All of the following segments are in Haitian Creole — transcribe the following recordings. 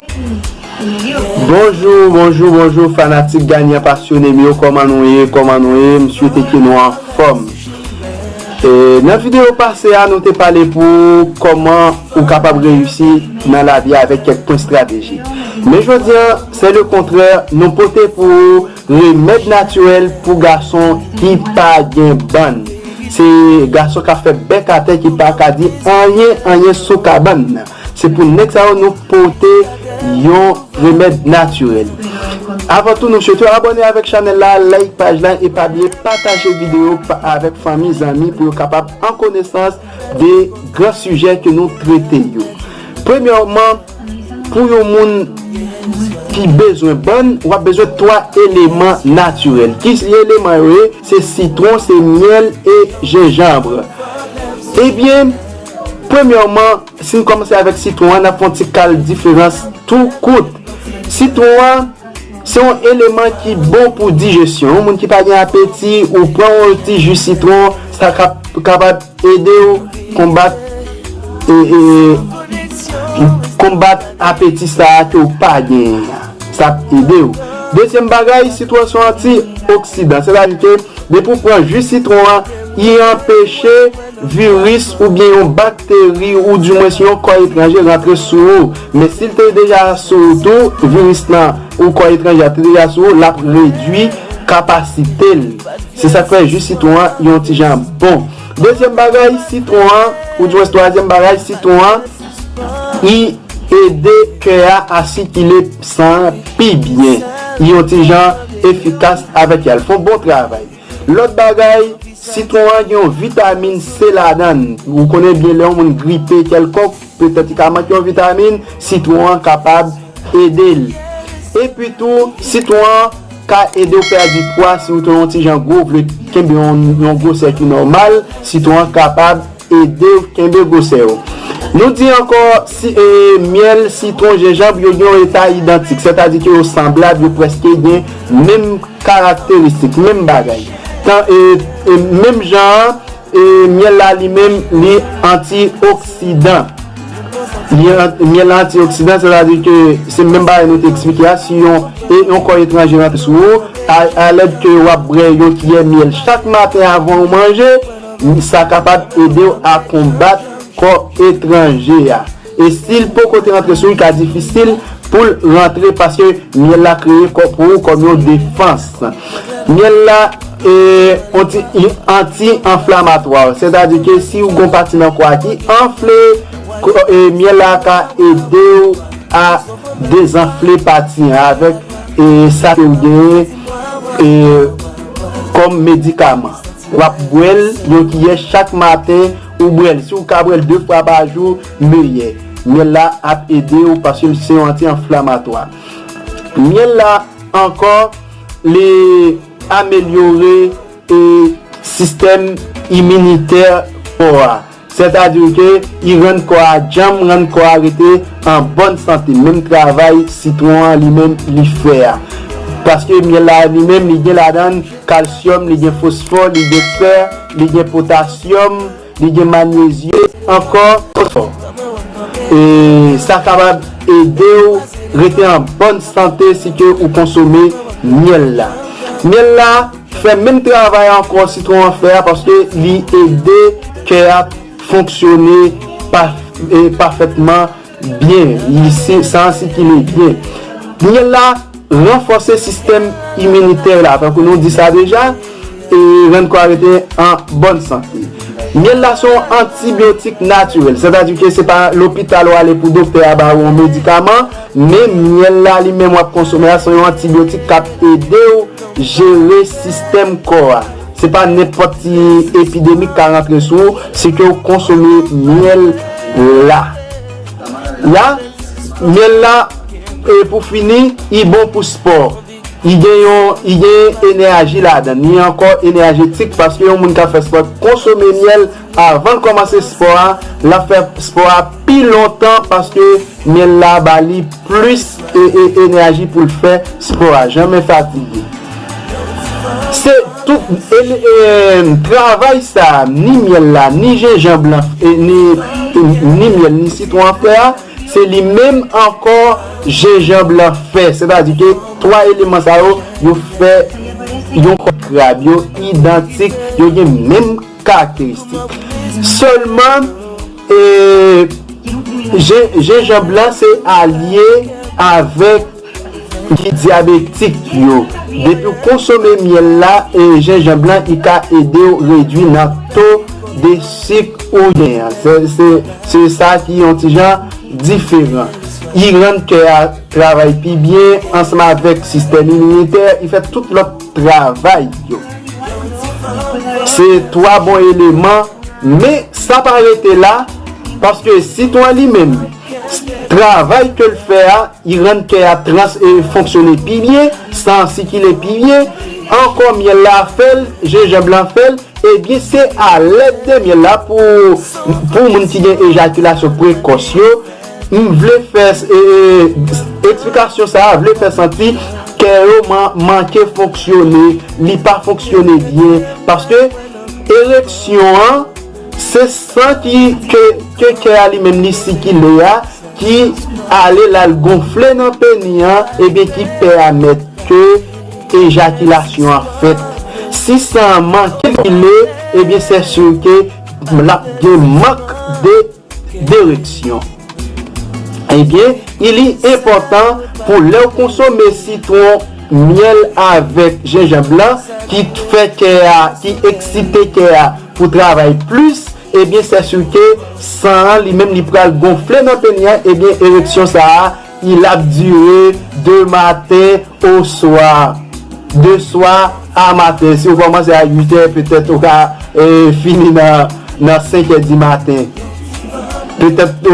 Bonjour bonjour bonjour fanatik ganyan pasyone m yo kòman nou ye kòman nou ye m swete ke nou anfòm nan video pase a nou te pale pou kòman ou kapab reyisi nan lavi a avèk kèk pwen strateji men jodi an se le kontrè nou pote pou ou remèd natirèl pou gason ki pa gen bann se gason k ap fè bèk atè ki pa ka di anyen anyen sou kabann. Se pou nèg sa yo nou pote yon remèd natirèl. Avan tou nou swete w abòne avèk chanèl la, like paj la e pa bliye pataje videyo avèk fanmi, zanmi pou yo kapab an konesans de gran sijè ke nou trete yo. Premyèman, pou yon moun ki bezwen bann, w ap bezwen 3 eleman natirèl. Ki eleman yo ye? Se sitwon, se myèl e jenjanbre. Ebyen, Premyèman, si n kòmanse avèk sitwon an, n ap fè yon ti kal diferans tou kout. Sitwon an se yon eleman ki bon pou dijesyon. Yon moun ki pa gen apeti, ou pran yon ti ji sitwon, sa kapab ede w konbat konbat apeti sa a ke w pa genyen an. Sa ap ede w. Dezyèm bagay, sitwon an se yon anti-oksidan. Sètadi ke depi w pran ji sitwon an, li anpeche. viris oubyen yon bakteri ou di mwens yon kò etranje rantre sou ou men sil te deja sou ou tou viris lan ou kò etranje a te deja sou ou lap redwi kapasitel se sak fè ji sitwon an yon ti jan bon dezyèm bagay sitwon an ou di mwens twazyèm bagay sitwon an li ede kè a a sikile san an pi byen li yon ti jan efikas avèk yal fon bon travay. Lòt bagay, sitwon an gen yon vitamin C ladan l. Ou konnen byen lè yon moun gripe kèlkonk, petèt li ka manke yon vitamin, sitwon an kapab ede l. Epi tou, sitwon an ka ede w pèdi pwa si ou te yon ti jan gwo, ou vle kenbe yon gwosè ki nòmal, sitwon an kapab. Ede kenbe gwosè yo. Nou di ankò, si myèl, sitwon, jenjanb yo gen yon eta idantik, sètadi ke yo sanblab, yo prèske gen menm karakteristik, menm bagay. Tan e menm jan an, myèl la li menm li antioksidan. Li myèl la antioksidan, sètadi ke se menm bagay nou te eksplike a, si yon e yon kò etranje rantre sou ou, a lèd ke w'ap bwè yon kiyè myèl chak maten avan ou manje, Wi sa kapab edew a konbat kò etranje a. E sil poko te rantre sou li ka difisil poul rantre paske myèl la kreye kò pou ou kòm yon defans. Myèl la anti anflamatwa sètadi ke si ou gon pati nan kò a ki anfle myèl la ka edew a dezanfle pati an avèk sa kew genyen kòm medikaman. Wap bwèl yon kiyè chak maten ou bwèl si ou ka bwèl 2 fwa pa jou meyè. Myèl la ap edew paske se yon anti anflamatwa. Myèl la ankò li amelyore sistèm iminitè kò a. Sètadi ke i rann kò a djanm, rann kò a rete an bòn sante. Menm travay sitwon an li menm li fè a. Paske myèl la li menm li gen ladan l kalsyòm, li gen fosfò, li gen fè, li gen potasyòm, li gen manyezye, ankò fosfò. E sa kapab ede w rete an bòn sante si ke ou konsome myèl la. Myèl la. Fè menm travay ankò sitwon an fè a paske li ede kè a fonksyone pafètman byen, san an sikile byen. Miyèl la ranfòse sistèm iminitè la, tankou nou di sa deja, e rann kò a rete an bòn sante. Myèl la se yon antibyotik natirèl, sètadi ke se pa lopital ou ale pou doktè a ba ou yon medikaman, men myèl la li menm w ap konsome a se yon antibyotik k ap ede ou. Jere sistèm kò a. Se pa nenpòt ti epidemi k ka rantre sou ou si ke w konsome myèl la. La, myèl la, e pou fini, li bon pou spò. Li gen yon, li gen enèji ladan li. Li ankò enèjetik paske yon moun k ap fè spò konsome myèl. Avan l kòmanse spò a, l ap fè spò a pi lontan paske myèl la ba li plis enèji pou l fè spò a. Janmen fatige. Se tout travay sa a, ni myèl la, ni jenjanb lan, ni myèl, ni sitwon an fè a, se li menm ankò jenjanb lan fè. Sètadi ke 3 eleman sa yo, yo fè yon kòk krab. Yo idantik, yo gen menm. karakteristik. Sèlman jenjanb lan se alye avèk ki dyabetik yo. Depi w konsome myèl la e jenjanb lan li ka ede w redwi nan to de sik ou gen an. Se sa ki yon ti jan diferan. Li rann kè a travay pi byen ansanm avèk sistèm iminitè, li fè tout lòt. travay yo. Se 3 bon eleman men sa pa rete la paske sitwa li menm travay ke l fè a li rann kè a trans e fonksyone pi byen, san an sikile pi byen, ankò myèl la fè l, jenjanb lan fè l, ebyen se alèd de myèl la pou moun ki gen ejakilasyon prekòs yo. M vle fè esplikasyon sa a vle fè santi kè yo manke fonksyone, li pa fonksyone byen paske ereksyon an se san ki ke kè a li menm li sikile a ki ale l al gonfle nan peni an ebyen ki pèmèt ke ejakilasyon an fèt. Si san an manke sikile ebyen sè sur ke l ap gen mank de. Direksyon, Ebyen i li enpòtan pou lè w konsome sitwon, myèl avèk jenjanb lan ki t fè kè a, ki eksite kè a pou travay plis, ebyen sè sirke san an li menm li pral gonfle nan peni an ebyen ereksyon sa a Il ap dire de maten o swa. De swa a maten. Si ou kòmanse a 8 è, petèt ou ka fini nan 5 è di maten. Petèt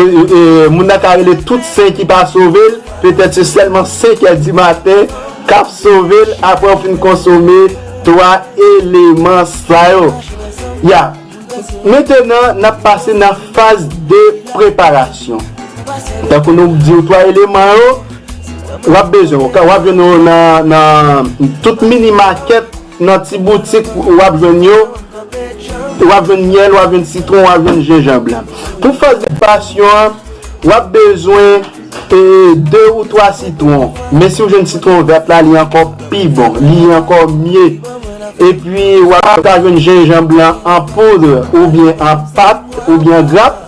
moun nan ka rele tout sen ki pa sove l, petèt se sèlman 5 è di maten k ap sove l apre ou fin konsome 3 eleman sa yo. Ya. Mentenan n ap pase nan faz de preparasyon. Tankou nou di w 3 eleman yo, w ap bezwen w ap jwenn yo nan tout mini makèt, nan ti boutik w ap jwenn yo, w ap jwenn myèl, w ap jwenn sitwon, w ap jwenn jenjanb la. Pou faz de preparasyon an, w ap bezwen. E 2 ou 3 sitron men si ou jwenn sitron vert la li ankò pi bon li ankò mye epi wap ka jwenn jenjanb lan an poudre oubyen an pat oubyen an grap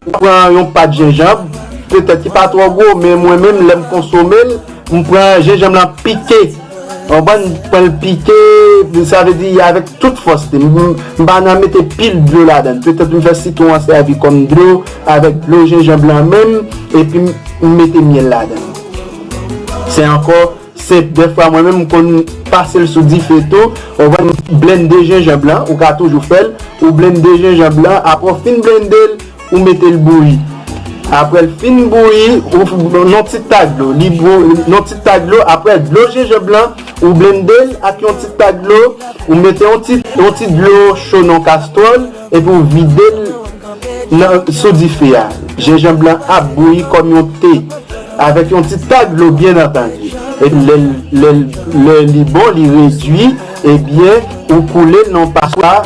ou pran yon pat jenjanb petèt ki pa twò gwo men mwen menm lèm konsomel m pran jenjanb lan pike Yon bann pranl pike sa vle di avèk tout fòs li m pa nan mete pil dlo ladann petèt m fè sitwon an sèvi kòm dlo avèk dlo jenjanb lan menm epi m mete myèl ladann se ankò senp dèfwa mwen menm m konn pasel sou dife tou ou konn blende jenjanb lan ou ka toujou fèl ou blende jenjanb lan aprè ou fin blendel Ou mete l bouyi. Aprè l fin bouyi, ou yon ti ta dlo. Yon ti ta dlo. Aprè dlo jenjanb lan, ou blende l ak yon ti ta dlo. Ou mete yon ti dlo cho nan yon kastwòl epi ou vide l sou dife a. Jenjanb lan ap bouyi kòm yon te. Avèk yon ti ta dlo byen antandi. Epi lè li bon, li redui, ebyen ou koule l nan yon paswa.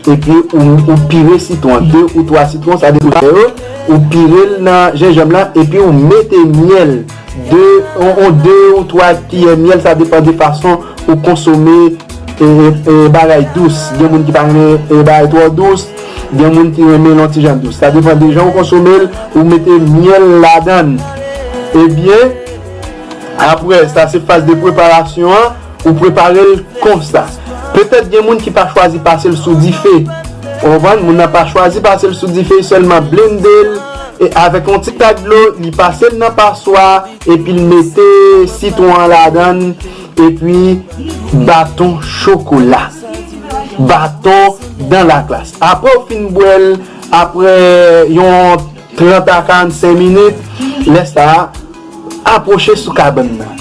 Epi ou pire sitwon an, 2 ou 3 sitwon sa depann de ou, ou pire l nan jenjanm lan epi ou mete myèl, 2 yon 2 ou 3 kiyè myèl sa depann de fason ou konsome bagay dous, gen moun ki pa renmen bagay twò dous, gen moun ki renmen l yon ti jan dous, sa depann de jan ou konsome l, ou mete myèl ladan l, ebyen aprè sa se faz de preparasyon an. Ou prepare l konsa. Petèt gen moun ki pa chwazi pase l sou dife. Ou konprann? Moun nan pa chwazi pase l sou dife, li sèlman blende l e avèk yon ti tak dlo, li pase l nan paswa epi l mete sitwon an ladan l epi baton chokola, baton dan laklas. Apre ou fin bwè l, apre yon 30 a 45 minit, lè sa a. Apwoche sou kabann nan.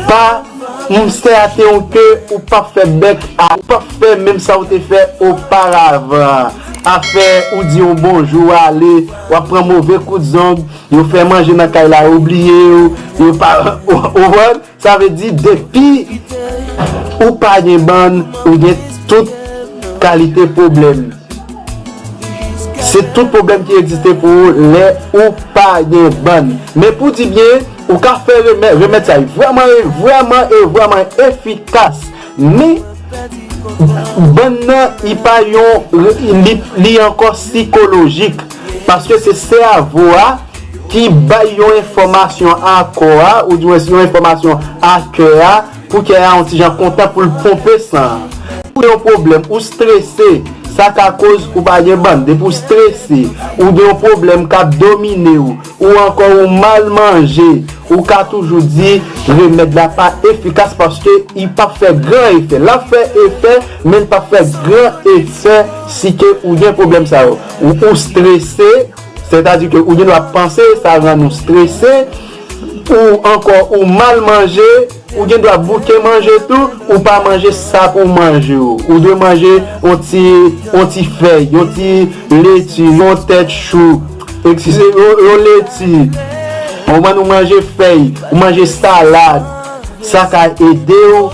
Pa, Monstè a te yon ke ou pap fè bèk a, ou pap fè menm sa ou te fè oparavan an. Afè ou di yon bonjou ou ale, w ap pran move kout zong, yo fè manje nan kay la yo bliye ou, yo pa, ou konprann? Sa vle di depi ou pa gen bann, ou gen tout kalite pwoblèm. Se tout pwoblèm ki egziste pou ou lè ou pa gen bann. Men pou di byen, ou ka fè remèd, remèd sa yo vrèman e vrèman e vrèman efikas. Men, bann nan li pa yon, li ankò sikolojik. Paske se sèvo a ki bay yon enfòmasyon a kò a, ou di mwen si yon enfòmasyon a kè a. Pou kè a on ti jan kontan pou l ponpe san an. Si w gen yon pwoblèm, ou strese, sa ka koz ou pa gen bann. Depi w strese, ou gen yon pwoblèm k ap domine w, ou ankò ou mal manje, ou ka toujou di remèd la pa efikas paske li p ap fè gran efè. L ap fè efè, men li p ap fè gran efè si ke ou gen pwoblèm sa yo. Ou strese, sètadi ke ou gendwa panse sa rann ou strese. Ou ankò ou mal manje, ou gen dwa bouke manje tou, ou pa manje sa pou w manje yo. Ou dwe manje yon ti yon ti fèy, yon ti leti, yon tèt chou, ekskize m yon leti, ou konprann ou manje fèy, ou manje salad, sa ka ede w,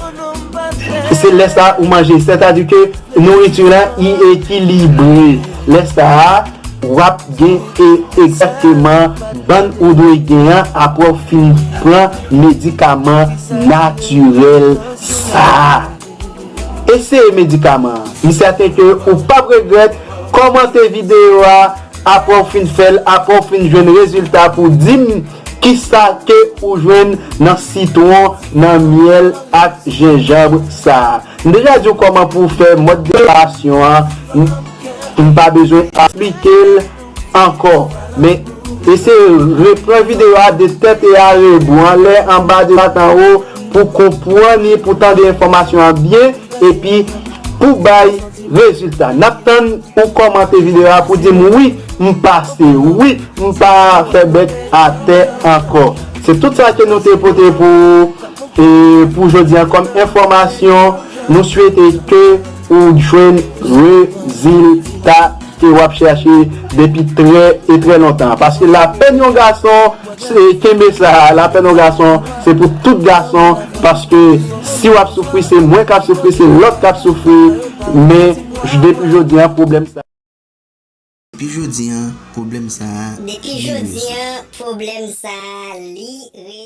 se lè sa ou manje, sètadi ke nouriti w la li ekilibre lè sa a. Wap gen e egzakteman bann ou dwe gen an aprè w fin pran medikaman natirèl sa a. Eseye medikaman an. M sèten ke ou pap regrèt, kòmante videyo a aprè w fin fè l, aprè w fin jwenn rezilta pou w di m kisa ke ou jwenn nan sitwon, nan myèl ak jenjanbre sa a. M deja di w kòman pou w fè mòd preparasyon an. M pa bezwen esplikel ankò men eseye repran video a de tèt e a rebo anlè anba de dwat anwo pou konpwan ni pou tande enfòmasyon an byen epi pou bay rezilta nap tann ou kòmante video a pou dim wi m pase wi m pa fè bèk atè ankò se tout sa ke nou te pote pou ou pou jodi an kòm enfòmasyon nou swete ke Ou jwenn rezilta ke wap chèche depi trè e trè lontan. Paske lapenn yon gason se kenbe sa, lapenn yon gason se pou tout gason paske si wap soufri se mwen kap soufri se lòt kap soufri men depi jodi an pwoblèm sa. Depi jodi an pwoblèm sa li rezi. Depi jodi an pwoblèm sa li re.